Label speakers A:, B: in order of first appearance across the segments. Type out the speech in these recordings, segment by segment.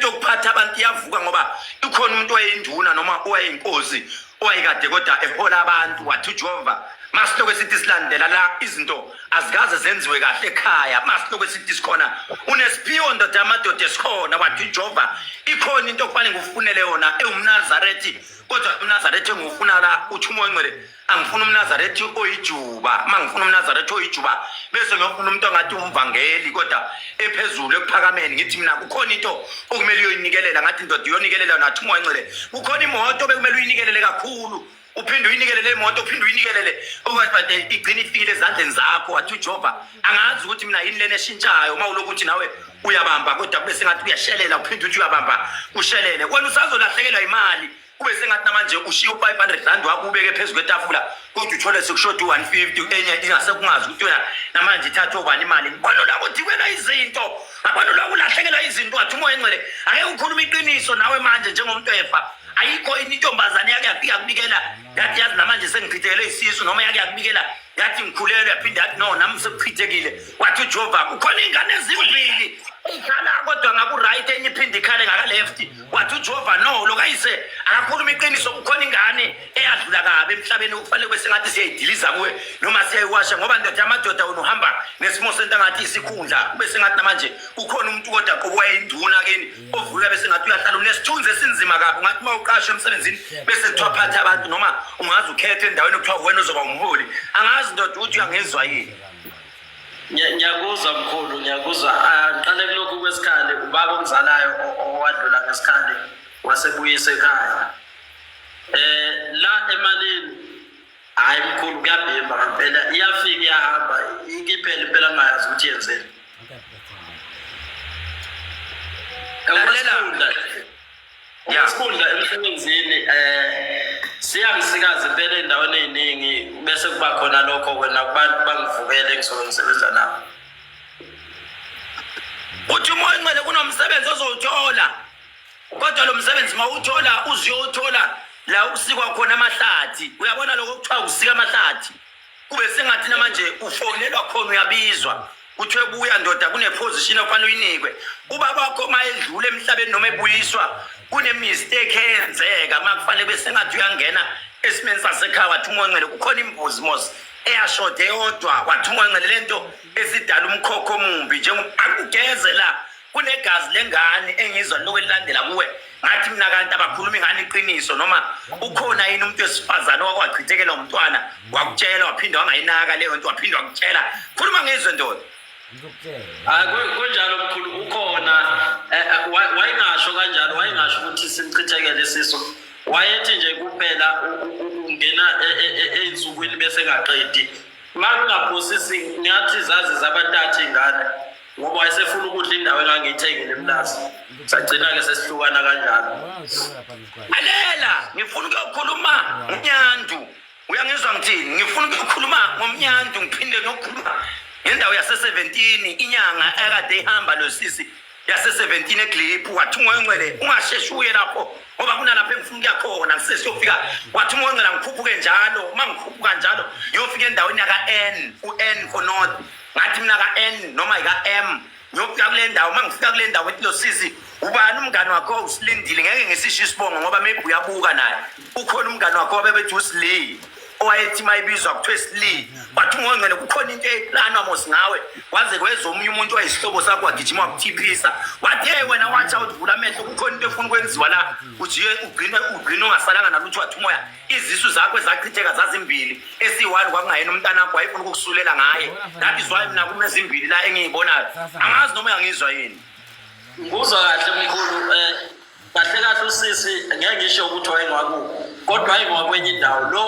A: yokuphatha abantu iyavuka ngoba ikhona umuntu owayenduna noma owayinkosi owayekade kodwa ehola abantu wathi ujehova masilokhu esithi silandela la izinto azikaze zenziwe kahle ekhaya masilokhu esithi sikhona unesiphiwo ndoda yamadoda esikhona wathi ujehova ikhona into okufanele ngikufunele yona ewumnazarethi kodwa umnazarethi engiwufuna la uthi umoya ongcwele angifuna umnazarethi oyijuba uma ngifuna umnazarethi oyijuba bese ngiyofuna umuntu ongathi umvangeli kodwa ephezulu ekuphakameni ngithi mina kukhona into okumele uyoyinikelela ngathi ndoda uyonikelela nathi umoncele kukhona imoto bekumele uyinikelele kakhulu uphinde uyinikelele imoto uphinde uyinikelele okwathi igcine ifikile ezandleni zakho wathi ujehova angazi ukuthi mina yini lena eshintshayo uma ulokuthi nawe uyabamba kodwa kube sengathi uyashelela uphinde uthi uyabamba ushelele wena usazolahlekelwa imali kube sengathi namanje ushiye u-500 rand wakho ubeke phezu kwetafula kodwa uthole sekushoda u-150 enye ingase kungazi ukuthi wena namanje ithathe obani imali ngibona la kuthi kwena izinto ngabona la kulahlekelwa izinto wathi umoya engcwele ake ukhuluma iqiniso nawe manje njengomuntu efa ayikho ini intombazane yake yafika kubikela yathi yazi namanje sengichithekele isisu noma yake yakubikela yathi ngikhulelwe yaphinde yathi no nami sekuchithekile wathi ujova kukhona iy'ngane ezimbili ikhala kodwa ngaku-right enye iphinde ikhale ngaka-left wathi ujehova no lokayise akakhuluma iqiniso kukhona ingane eyadlula kabi emhlabeni okufanele kube sengathi siyayidiliza kuwe noma siyayiwasha ngoba ndoda amadoda wena uhamba nesimo sento angathi isikhundla kube sengathi namanje kukhona umuntu kodwa qobuwa induna kini ovulula bese ngathi uyahlala unesithunzi esinzima kabi ungathi uma uqashwe emsebenzini bese kuthiwa phatha abantu noma ungazi ukhethe endaweni okuthiwa wena ozoba umholi angazi ndoda ukuthi uyangezwa yini
B: ngiyakuzwa mkhulu ngiyakuzwa aqale ah, kulokhu kwesikhali ubaba omzalayo owadlula ngesikhali wasebuyisa ekhaya eh la emalini hayi mkhulu kuyabhimba ngempela iyafika iyahamba ikiphela impela ngayazi ukuthi yenzeni lalela Isikhundla emsebenzini eh siyangisikaza impela endaweni eziningi bese kuba khona lokho wena kubantu bangivukele engisoke ngisebenza nabo.
A: Uthi uma ingcele kunomsebenzi ozowuthola. Kodwa lo msebenzi mawuthola uziyothola la ukusikwa khona amahlathi. Uyabona lokho kuthiwa usika amahlathi. kube sengathi namanje ufonelwa khona uyabizwa kuthiwe buya ndoda kuneposition okufanele uyinikwe ubaba wakho uma edlula emhlabeni noma ebuyiswa kunemistake eyenzeka uma kufanele kube sengathi uyangena esimeni sasekhaya wathi umoncele kukhona imbuzi mos eyashode yodwa wathi umoncele le nto esidala umkhokho omumbi njengo akugeze la kunegazi lengane engizwa liloku elilandela kuwe ngathi mina kanti abakhulumi ngani iqiniso noma ukhona yini umuntu wesifazane owakwachithekela umntwana wakutshela waphinde wangayinaka leyo nto waphinde wakutshela khuluma ngezwe ndoda ah, kunjalo
B: mkhulu ukhona eh, eh, wayengasho kanjalo wayengasho ukuthi simchithekele isiso wayethi nje kuphela ungena e, ey'nsukwini e, e, bese engaqedi uma kungaphosisi ngathi zazi zabantathu iy'ngane ngoba wayesefuna ukudla indawo engangiyithengile emlazi sagcina-ke sesihlukana kanjalo
A: lalela ngifuna ukuyokhuluma ngonyandu uyangizwa ngithini ngifuna ukuyokhuluma ngomnyandu ngiphinde ngiyokhuluma ngendawo yase-seventeen inyanga ekade ihamba lo sisi yase-seventeen egliphu wathi ungoyongcwele ungasheshi uye lapho ngoba kunalapho engifuna ukuya khona ngisesiyofika wathi ungoyongcwela ngikhuphuke njalo uma ngikhuphuka njalo ngiyofika endaweni yaka-n u-n for north ngathi mina ka-n noma yika-m ngiyofika kule ndawo uma ngifika kule ndawo ethi losisi ubani umngane wakho usilindile ngeke ngisisho isibongo ngoba maybe uyabuka naye ukhona umngane wakho wabebethi usiley owayethi uma ibizwa kuthiwa esiley wathi ungongcele kukhona into eplanwa mos ngawe waze kweza omunye umuntu wayisihlobo sakho wagijima wakuthiphisa wathi hey wena watsha uthivula amehlo kukhona into efuna ukwenziwa la ujike ugcine ugcine ungasalanga nalutho wathi umoya izisu zakho ezachitheka zazimbili esiyi-one kwakungayena umntanakho wayefuna ukukusulela ngaye that is why mina kume zimbili la engiyibonayo angazi noma uyangizwa yini ngikuzwa
B: kahle mkhulu um eh, kahle kahle usisi ngeke ngisho ukuthi wayengwakubo kodwa ayengwakwenye indawo lo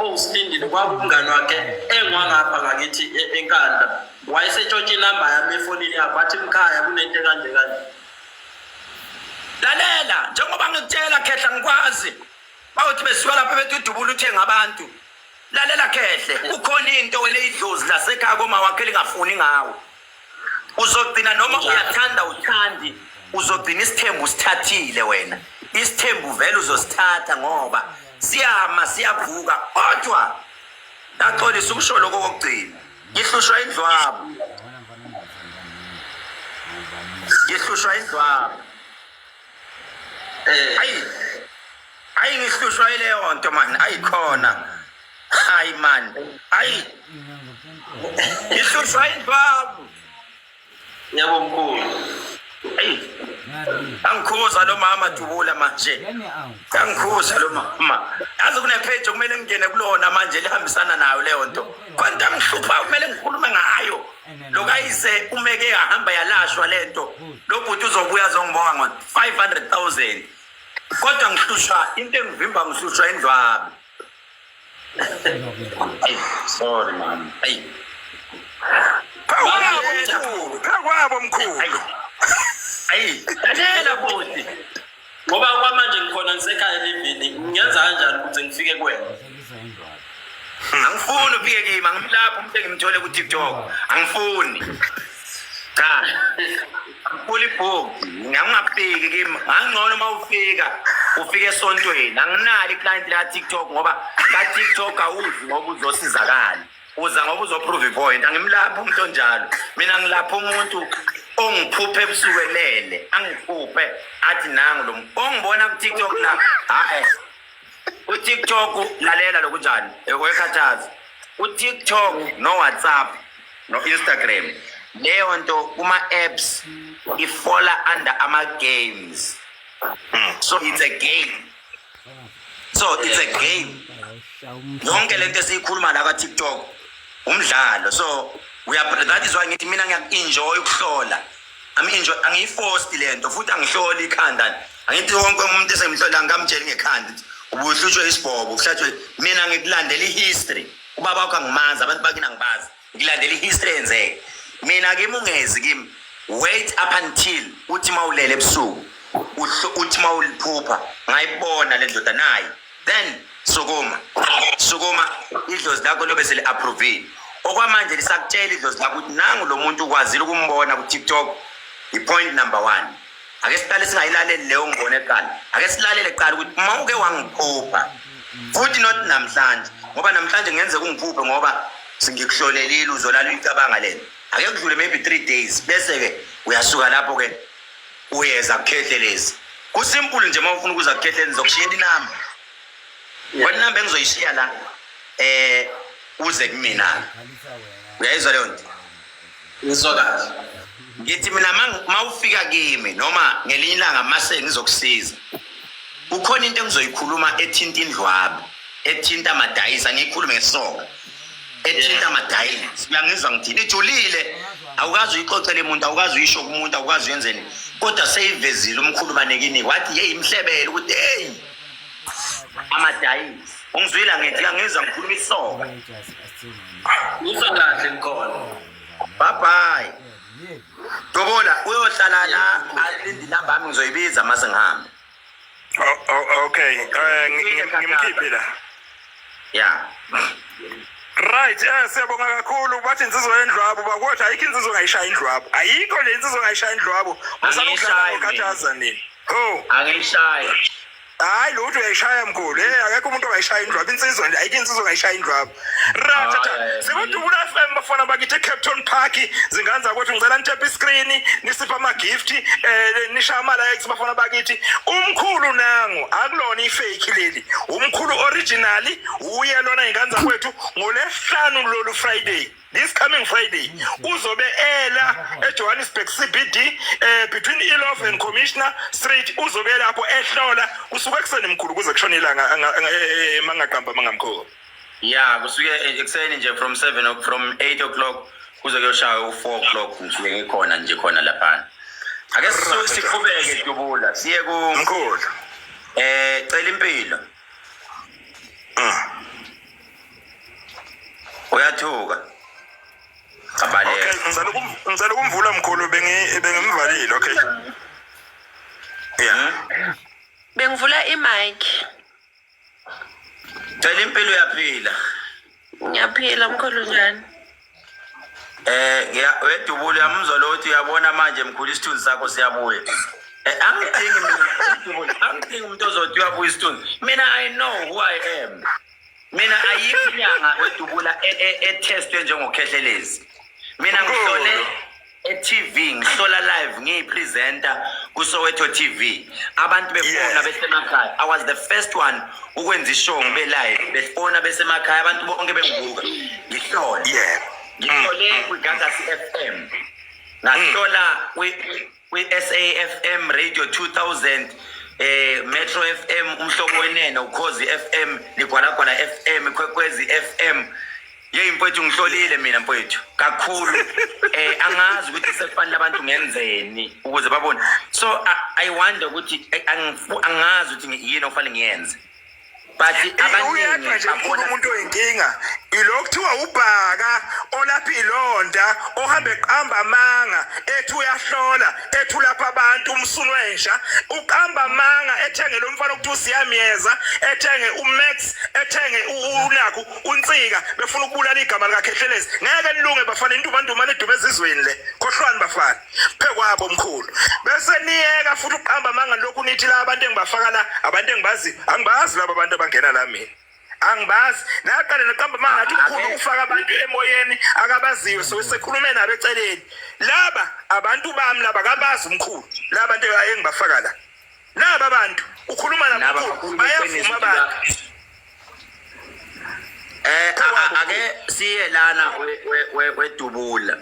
B: owusindile kwakumngani wakhe engwangapha ngakithi e-, enkanda wayesetshotsha inamba yami efonini yakho wathi mkhaya kunento kanje kanje
A: lalela njengoba ngikutshela khehla ngikwazi bawuthi besuka lapha bethi udubula uthenga abantu lalela khehle kukhona into wena idlozi lasekhaya koma wakhe lingafuni ngawo uzogcina noma uyathanda uthandi uzogcina isithembu usithathile wena isithembu vele uzosithatha ngoba siyama siyavuka kodwa ndaxolisa ukusho lokho kokugcina ngihlushwa indlwabo ngihlushwa indlwabo eh. ayi ayi ngihlushwa ileyo nto mani ayikhona hayi mani ayi ngihlushwa indwabu
B: yebo mkhulu ayi
A: angikhuza lo mama dubula manje angikhuza lo mama yazi kunepage okumele ngingene kulona manje lihambisana nayo leyo nto kwanto amhlupha kumele ngikhulume ngayo lokayise umeke yahamba yalashwa lento lobhuti uzobuya zongibonga ngo 500000 kodwa ngihlushwa into engivimba ngihlushwa indlwabi ayi sorry mama ayi phakwabo
C: mkhulu phakwabo mkhulu ayi ayi
A: lalela bhuti ngoba
B: kwamanje ngikhona ngisekhaya elivini ngenza kanjani ukuze ngifike kuwena
A: angifuni uphike kimi angimlaphi umntu engimthole kutiktok angifuni cha ngifuna ibhuku ngangingafiki kimi ngangingcono uma ufika ufike esontweni anginalo iklayenti la tiktok ngoba ka tiktok awudli ngoba uzosizakala uza ngoba uzoprove ipoint angimlaphi umuntu onjalo mina ngilapha umuntu ongiphuphe ebusuku elele angiphuphe athi nangu lo ongibona kutiktok la hayi utiktok lalela lokunjani wekhathaza utiktok nowhatsapp no-instagram leyo nto kuma-apps ifola under ama-games hmm. so it's a game so it's a game yonke lento esiyikhuluma la ka-tiktok umdlalo so that is why ngithi mina ngiyaku-enjoy ukuhlola angiyifosti le nto futhi angihloli ikhanda angithi wonke umuntu esemhlola ngikamtsheli ngekhanda ubuhlutshwe isibhobo kuhlatshwe mina ngikulandela i-history ubaba wakho angimazi abantu bakini angibazi ngilandela ihistory eyenzeke mina kimi ungezi kimi wait up until uthi mawulele ebusuku uhlo- uthi mawuliphupha ngayibona le ndoda nayi then sukuma sukuma idlozi lakho lobe seli-approvile okwamanje lisakutshela idlozi lakho ukuthi nangu lo muntu ukwazile ukumbona ku-tiktok i-point number one ake siqale singayilaleli leyo ngibone eqala ake silalele kuqala ukuthi uma uke wangiphupha futhi not namhlanje ngoba namhlanje ngenze kungiphuphe ngoba singikuhlolelile uzolala uyicabanga lena ake kudlule maybe three days bese-ke uyasuka lapho-ke uyeza kukhehlelezi kusimple nje uma ufuna ukuza kukhehlelezi zokushiyela inamba wena inamba engizoyishiya la um uze kumina-ke uyayizwa leyo nto ngizwa kahle
B: ngithi
A: mina mawufika kimi noma ngelinye ilanga mase ngizokusiza kukhona into engizoyikhuluma ethinta indlwabu ethinta amadayisa ngiyikhulume ngesonga ethinta amadayisa uyangizwa ngithini ijulile awukazi uyixoxele umuntu awukazi uyisho kumuntu awukazi uyenzeni kodwa seyivezile umkhulu banekini wathi yeyi mhlebele ukuthi heyi amadayisi ungizwile angithi uyangizwa ngikhuluma isoka
B: Musa kahle ngikhona. Bye
A: bye. Dobola uyohlala la alindi number yami ngizoyibiza mase ngihambe.
C: Okay, eh ngimkhiphe la. Yeah. Right, eh siyabonga kakhulu bathi insizwa yendlwabo bakwethu ayikho insizwa ngayishaya indlwabo. Ayikho le insizwa ngayishaya indlwabo. Musana ukudlala ngokhathaza nini? Oh. Angiyishayi.
A: hayi lo
C: uthi uyayishaya mkhulu hey akekho umuntu ongayishaya indlwaba insizwa nje ayike insizwa ongayishaya indlwaba ratata sikudubula FM bafana bakithi Cape Town Park zingane zakwethu ngicela nitap iscreen nisipha ama gift eh nisha ama likes bafana bakithi umkhulu nangu akulona ifake leli umkhulu original uye lona ingane zakwethu ngolesihlanu lolu Friday this coming friday uzobe ela ejohannesburg cbd eh, between ilof and commissioner street uzobe lapho ehlola kusuke ekuseni mkhulu kuze kushone ilanga mangaqamba eh, eh, mangamkhulu ya kusuke
A: ekuseni nje from seven from eight o'clock kuze kuyoshaya u-four o'clock ngisuke ngikhona nje khona laphana ake siqhubeke dubula siye ku mkhulu
C: eh
A: cela impilo ah uyathuka
C: ngicela ukumvula mkhulu bengimvalile okay ya hmm? bengivula
D: imike
A: cela impilo uyaphila
D: ngiyaphila mkhulu njani Eh ya
A: wedubule yamuzwa lo uthi uyabona manje mkhulu isithunzi sakho siyabuya. Eh angidingi mina angidingi umuntu ozothi uyabuya isithunzi. Mina I know who I am. Mina ayikho inyanga wedubula e-, e-, e-testwe njengokhehlelezi. Mina ngihlole e-TV ngihlola live ngiyipresenter kuSoweto TV abantu befona Yes. besemakhaya I was the first one ukwenza ishow ngibe live befona besemakhaya abantu bonke bengibuka ngihlola Yeah. ngihlole kwiGagasi FM ngahlola kwi- kwi-SAFM Radio 2000 eh Metro FM umhlobo wenene ukhozi FM ligwalagwala FM ikwekwezi FM yeyi mfowethu ngihlolile mina mfowethu kakhulu eh angazi ukuthi sekufanele abantu ngenzeni ukuze babone so I, i wonder ukuthi eh, angifu- angazi ukuthi ngi- yini okufanele ngiyenze but abaningi uyedwa nje mkhulu babona umuntu
C: oyinkinga ilo kuthiwa ubhaka olapha ilonda ohambe eqamba amanga ethi uyahlola ethi ulapha abantu umsulwensha uqamba amanga ethenge lo mfana okuthiwa usiyamyeza ethenge umax ethenge u- unakho unsika befuna ukubulala igama likakhehlelezi ngeke nilunge bafana intumantumane edume ezizweni le khohlwani bafana phe kwabo mkhulu bese niyeka futhi ukuqamba amanga lokhu nithi la abantu engibafaka la abantu engibazi angibazi laba abantu abangena la mina angibazi naqale naqamba amanga athi mkhulu ufaka abantu emoyeni akabaziwe so sekhulume nabo eceleni laba abantu bami laba kabazi mkhulu laba nto engibafaka la naba bantu ukhuluma nabo bayavuma
A: abantu eh ake siye lana wedubula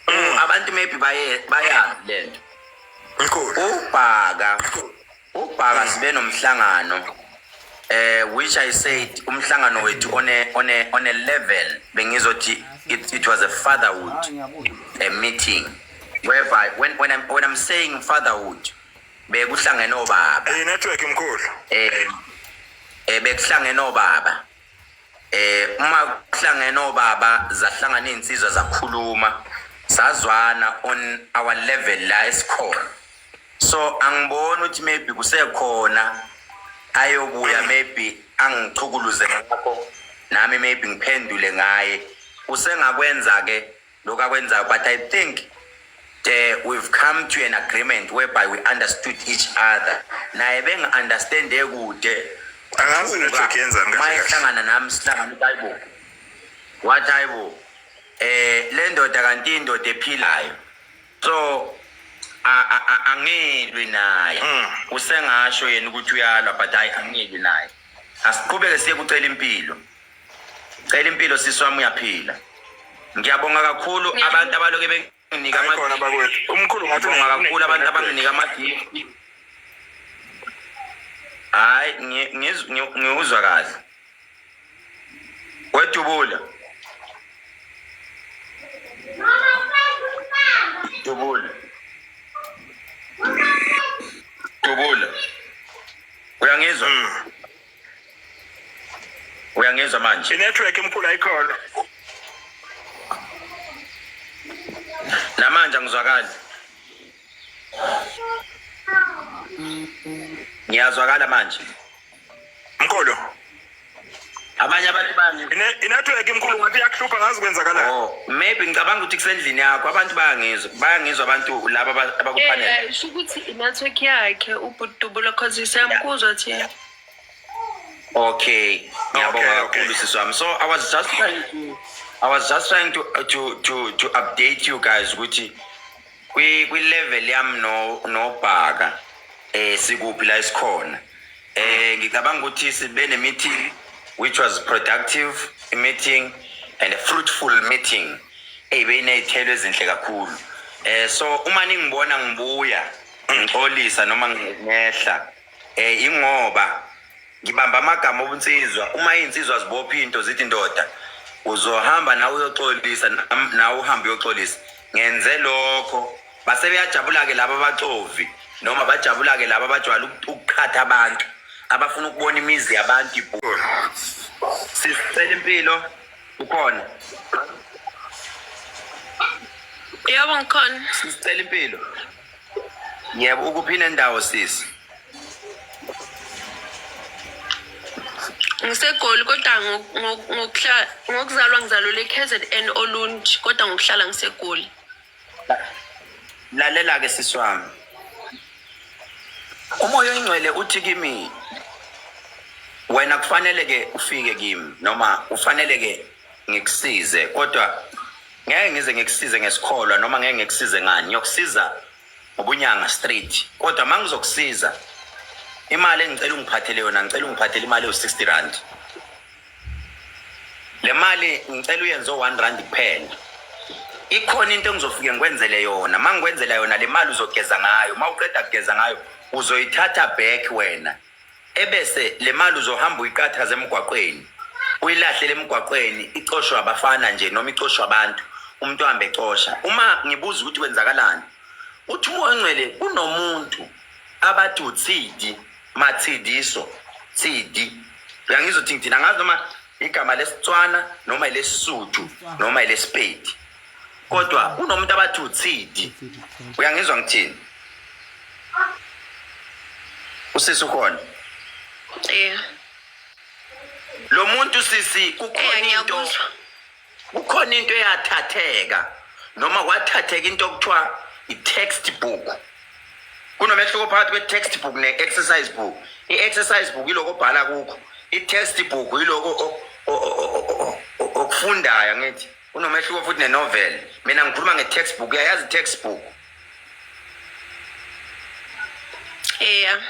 A: mm. abantu maybe baye bayazi lento
C: ubhaka
A: ubhaka mm. sibe nomhlangano eh which i said umhlangano wethu on a on a on a level bengizothi it, it was a fatherhood a meeting whereby when when i'm when i'm saying fatherhood bekuhlangene obaba Hey network mkhulu.
C: eh eh,
A: bekuhlangene obaba eh uma kuhlangene obaba zahlangana insizwa zakhuluma sazwana on our level la esikhona so angiboni ukuthi maybe kusekhona ayobuya mm. maybe angichukuluze ngakho nami maybe ngiphendule ngaye usengakwenza ke lokhu akwenzayo but i think uh, we've come to an agreement whereby we understood each other naye bengi-understande kude angazi
C: network yenzani kahle kahle mayehlangana nami sihlangana
A: ukuthi hayibo wathi hayibo eh le ndoda kanti indoda ephilayo so a- a- a- angilwi naye Mm. usengasho yena ukuthi uyalwa but hayi angilwi naye asiqhubeke siye kucela impilo Cela impilo sisi wami uyaphila. Ngiyabonga kakhulu abantu abaloke benginika Hayi khona ama bakwethu.
C: Umkhulu ngathi Ngiyabonga kakhulu abantu abanginika
A: ama gift. Hayi ngi- ngiz- ngi- ngiwuzwa kahle. Wedubula. Dubula. Dubula. Uyangizwa? Mm. uyangizwa manje inetwork emkhulu ayikhona namanje angizwakali ngiyazwakala manje
C: mkhulu
A: abanye abantu bani inetwork imkhulu
C: ngathi iyakuhlupha ngazi kwenzakalayo oh maybe ngicabanga ukuthi
A: kusendlini yakho abantu bayangizwa bayangizwa abantu laba abakuphanele eh, eh, sho ukuthi inetwork
D: yakhe ubhuti dubulo cause siyamkuzwa thina Okay,
A: ngiyabonga kakhulu sisi wami. So I was just trying to I was just trying to to to to update you guys ukuthi kwi kwi level yam no no bhaka eh sikuphi la isikhona. Eh ngicabanga ukuthi sibe ne meeting which was productive meeting and a fruitful meeting eyibe inezithelo ezinhle kakhulu. Eh so uma ningibona ngibuya ngixolisa noma ngehla Eh ingoba ngibamba amagama obunsizwa uma izinsizwa zibopha into zithi indoda uzohamba nawe uyoxolisa nam- nawe uhambe uyoxolisa ngenze lokho base beyajabula-ke laba abaxovi noma bajabula-ke laba abajwayele uku- ukuqhatha abantu abafuna ukubona imizi yabantu ibhulu sisicela impilo ukhona
D: Yebo ngikhona. sisicela impilo
A: Yebo ukuphi nendawo sisi?
D: ngisegoli kodwa ngo- ngo- ngokuhla- ngokuzalwa ngizalelwe ekzn olunj kodwa ngokuhlala ngisegoli
A: Lalela ke sisi wami. Umoya oyingcwele uthi kimi wena kufanele ke ufike kimi noma ufanele ke ngikusize kodwa ngeke ngize ngikusize ngesikholwa noma ngeke ngikusize ngani ngiyokusiza ngobunyanga straight kodwa uma ngizokusiza imali engicela ungiphathele yona ngicela ungiphathele imali ewu-sixty rand le mali ngicela uyenze o-one rand kuphela ikhona into engizofike ngikwenzele yona uma ngikwenzela yona le mali uzogeza ngayo uma uqeda kugeza ngayo uzoyithatha back wena ebese le mali uzohamba uyiqathaza emgwaqweni uyilahlele emgwaqweni icoshwe abafana nje noma icoshwe abantu umuntu ohambe ecosha uma ngibuza ukuthi kwenzakalani uthi umoya ongcwele kunomuntu abathi uthidi mathidiso thidi uyangizothi ngithina ngazi noma igama lesitswana noma elesisuthu noma elesipedi kodwa kunomuntu abathi uthidi uyangizwa ngithini usisi ukhona yeah. lo muntu sisi kukhona into kukhona into eyathatheka noma kwathatheka into okuthiwa i-text book kunomehluko phakathi kwe-text book ne-exercise book i-exercise book iloko obhala kukho i-text book iloko okufundayo ngithi kunomehluko futhi nenovel mina ngikhuluma nge-text book uyayazi i-text book eya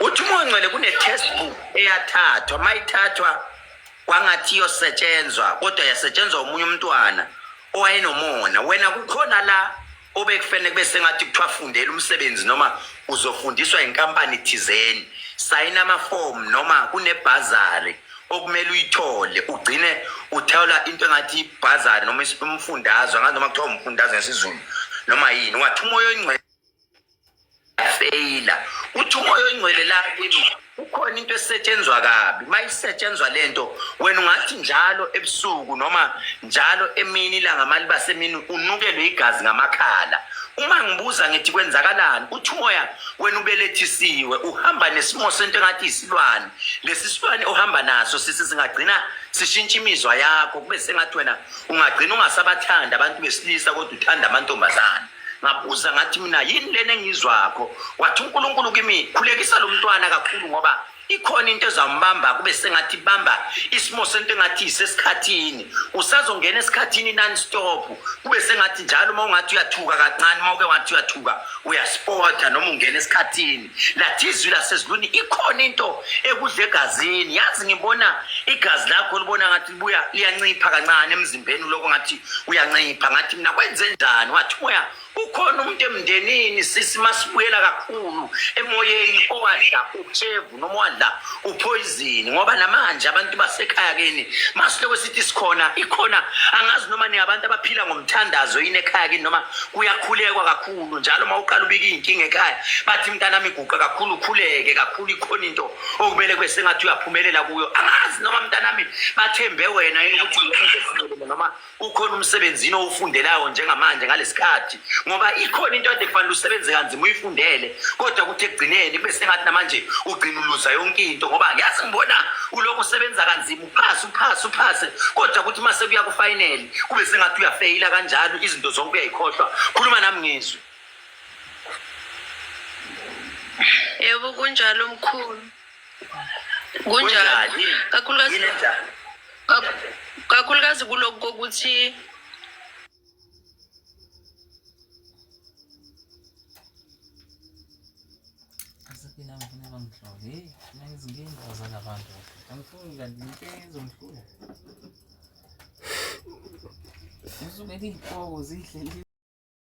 A: uthi umoncele kune-text book eyathathwa mayithathwa kwangathi iyosetshenzwa kodwa yasetshenzwa umunye umntwana owayenomona wena kukhona la obekufanele kube sengathi kuthiwa fundela umsebenzi noma uzofundiswa inkampani thizeni sayina amafomu noma kunebhazari okumele uyithole ugcine uthawula into engathi ibhazari noma umfundazwe angazi noma kuthiwa umfundazwe ngesizulu noma yini wathi umoya oyingcwele feyila uthi umoya oyingcwele la kimi kukhona into esetshenzwa kabi uma isetshenzwa le nto wena ungathi njalo ebusuku noma njalo emini ilanga maliba semini unukelwe igazi ngamakhala uma ngibuza ngithi kwenzakalani uthi umoya wena ubelethisiwe uhamba nesimo sento engathi isilwane lesi silwane ohamba naso sisi singagcina sishintsha imizwa yakho kube sengathi wena ungagcina ungasabathanda abantu besilisa kodwa uthanda amantombazane ngabuza ngathi mina yini lena engizwakho wathi unkulunkulu kimi khulekisa lo mntwana kakhulu ngoba ikhona into ezambamba kube sengathi bamba isimo sento engathi isesikhathini usazongena esikhathini non stop kube sengathi njalo uma ungathi uyathuka kancane uma uke wathi uyathuka uyaspota noma ungena esikhathini lathi izwi lasezulwini ikhona into ekudla egazini yazi ngibona igazi lakho libona ngathi libuya liyancipha kancane emzimbeni uloko ngathi uyancipha ngathi mina kwenze njani wathi moya ukhona umuntu emndenini sisi masibuyela kakhulu emoyeni owadla utshevu noma owadla uphoyizini ngoba namanje abantu basekhaya kini masiloko sithi sikhona ikhona angazi noma ningabantu abaphila ngomthandazo yini ekhaya kini noma kuyakhulekwa kakhulu njalo uma uqala ubika iy'nkinga ekhaya bathi mntanami iguqa kakhulu ukhuleke kakhulu ikhona into okumele kube sengathi uyaphumelela kuyo angazi noma mntanami bathembe wena yini ukuthi uzophumela noma ukhona umsebenzini owufundelayo njengamanje ngalesikhathi ngoba ikhona into ade kufanele usebenze kanzima uyifundele kodwa kuthi ekugcineni kube sengathi namanje ugcina uluza yonke into ngoba ngiyazi ngibona ulokhu usebenza kanzima uphase uphase uphase kodwa kuthi uma sekuya kufinele kube sengathi uyafeyila kanjalo izinto zonke uyayikhohlwa khuluma nami ngizwe
D: Yebo kunjalo mkhulu. Kunjalo. Kunjani? Kakhulukazi Yini enjani? kak- kakhulukazi kulokhu kokuthi
E: Asaphila ngifuna bangihlole. Hey, mina ngizinkinga zala bantu. Angifuni kanti inkinga izongihlula. Usuke liqobo zihle